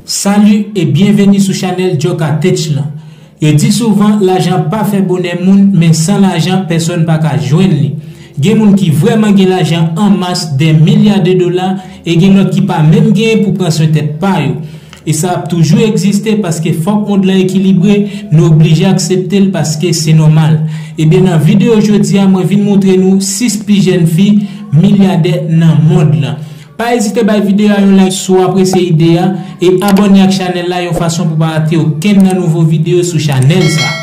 Salut et bienvenue sou chanel Joka Tech lan. Yo di souvan lajan pa fè bonè moun men san lajan pèsòn pa ka jwenn li. Gen moun ki vrèman gen lajan an mas dè milya de dola e gen lòt ki pa menm gen pou pran swen tèt pa yo. E sa ap toujou egziste paske fòk mond lan ekilibre, nou oblije aksepte l paske se nòmal. Ebyen nan videyo jodi a mwen vin moutre nou 6 pi jèn fi milyadè nan mond lan. Pa ezite bay videyo a yon like si w apresye ide a, e abòne ak chanèl la yon fason pou pa rate okenn nan nouvo videyo sou chanèl sa a.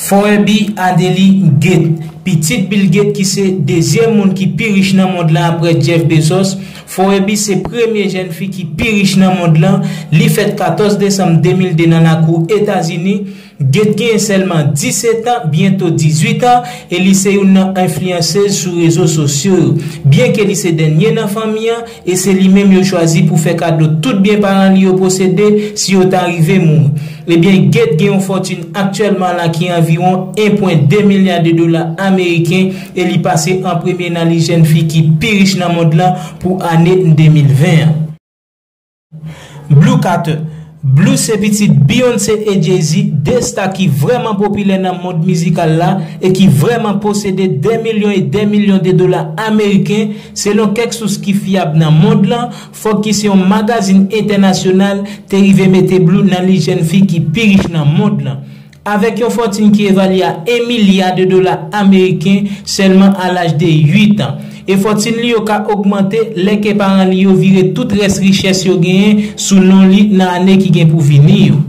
Forebi Adeli Gate, pitit Bill Gate ki se dezyèm moun ki pi rich nan mond lan aprè Jeff Bezos, Forebi se premye jèn fi ki pi rich nan mond lan, li fèt 14 desanm 2002 nan lakou Etazini, Gate genyen sèlman 17 an, byento 18 an, e li se youn nan enfliyansez sou rezo sosyo yo. Byenke li se dènye nan fanmi an, e se li menm yo chwazi pou fè kado tout byen paran li yo posede si yo ta rive mouri. Ebyen, Gate gen yon fòtin aktyèlman la ki anviwon 1.2 milya de dola ameriken e li pase an premye nan lis jèn fi ki pi rich nan mond lan pou ane 2020 an. Blue Carter, Blue se pitit Beyoncé e Jay-Z, 2 sta ki vrèman popilè nan mond mizikal la e ki vrèman posede dè milyon e dè milyon de dola ameriken, selon kèk sous ki fyab nan mond lan, fòk ki se yon magazin entènasyonal te rive mete Blue nan lis jèn fi ki pi rich nan mond lan. Avèk yon fòtin ki evalye a 1 milya de dola ameriken sèlman a laj de 8 an. E fòtin li yo ka ogmante lè ke paran li yo vire tout rès richès yo genyen sou non li nan ane ki gen pou vini yo.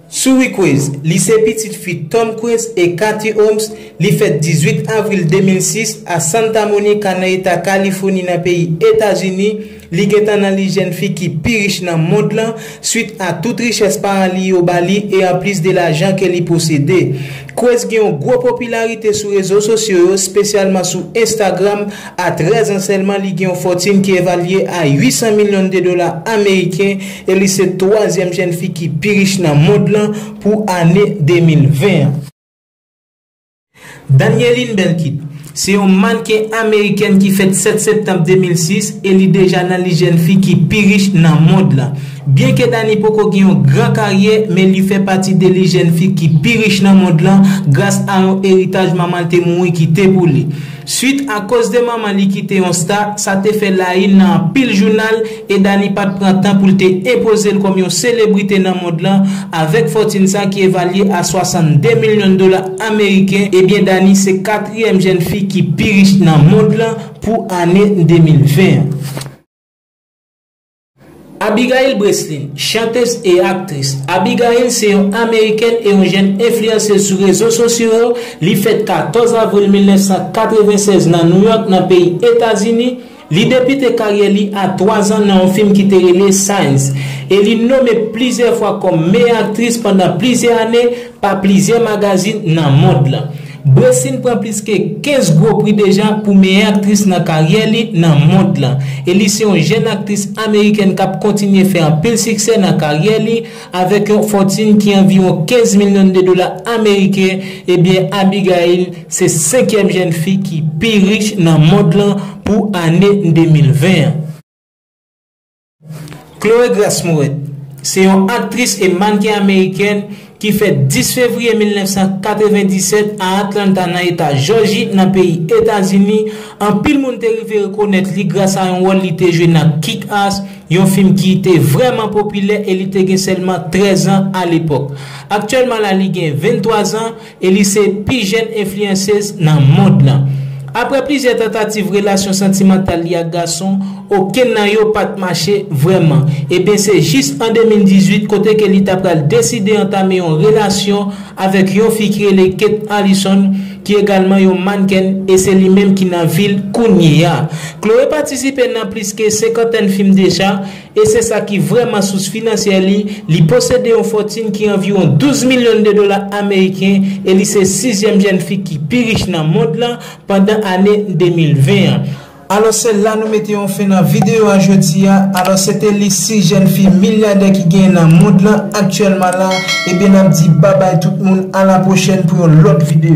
Suri Cruise, li se pitit fi Tom Cruise e Kathie Holmes, li fèt 18 avril 2006 a Santa Monica nan eta Kalifoni nan peyi Etazini, Li gentan nan lis jèn fi ki pi rich nan mond lan swit a tout richès paran li yo ba li e anplis de lajan ke li posede. Kruz gen yon gwo popilarite sou rezo sosyo yo, spesyalman sou Instagram, a 13 an sèlman li gen yon fòtin ki evalye a 800 milyon de dola ameriken e li se twazyèm jèn fi ki pi rich nan mond lan pou ane 2020 an. Danieline Belkit, se yon mannken amerikèn ki fèt 7 septanm 2006 e li deja nan lis jèn fi ki pi rich nan mond lan. Byenke Danie poko gen yon gran karyè, men li fè pati de lis jèn fi ki pi rich nan mond lan gras a yon eritaj manman l te mouri kite pou li. Swit a koz de manman li ki te yon sta, sa te fè la yn nan anpil jounal e Dany pat pran tan pou l te enpoze l kòm yon selebrite nan mond lan avèk fòtin sa ki evalye a 62 milyon dola ameriken, ebyen Dany se katriyèm jèn fi ki pi rich nan mond lan pou ane 2020 an. Abigail Breslin, chantez e aktris. Abigail se yon amerikèn e yon jèn enfliyansez sou rezo sosyo yo, li fèt 14 avril 1996 nan New York nan peyi Etazini, li debite karyè li a 3 zan nan yon fim ki te rele Signs e li nome plizyè fwa kòm meyè aktris pandan plizyè ane, pa plizyè magazin nan mond lan. Breslin pran plis ke 15 gwo pri deja pou meyè aktris nan karyè li nan mond lan e li se yon jèn aktris amerikèn kap kontinye fè anpil siksè nan karyè li avèk yon fòtin ki anviwon 15 milyon de dola ameriken ebyen Abigail se senkyèm jèn fi ki pi rich nan mond lan pou ane 2020 an. Chloé Grace Moret se yon aktris e mannken amerikèn ki fèt 10 fevriye 1997 a Atlanta nan eta Jòji nan peyi Etazini, anpil moun te rive rekonèt li gras a yon wòl li te jwe nan Kick-Ass, yon fim ki te vrèman popilè e li te gen sèlman 13 an alepòk. Aktyèlman la li gen 23 zan. e li se pi jèn enfliyansez nan mond lan. Aprè plizyè tantativ relasyon santimantal li ak gason, okenn nan yo pa t mache vrèman. Ebyen se jis an 2018 kote ke li ta pral deside antame yon relasyon avèk yon fi ki rele Kate Allison ki egalman yon mannken e se li menm ki nan vi l kounye a. Chloé patisipe nan plis ke senkantèn fim deja, e se sa ki vrèman sous finansyè li, li posede yon fòtin ki anviwon 12 milyon de dola ameriken e li se sizyèm jèn fi ki pi rich nan mond lan pandan ane 2020 an. Alòs se la nou mete yon fen nan videyo a jodi a, alòs se te lis 6 jèn fi milyadè ki genyen nan mond lan aktyèlman la, ebyen n ap di babay tout moun a la pwochèn pou yon lòt videyo.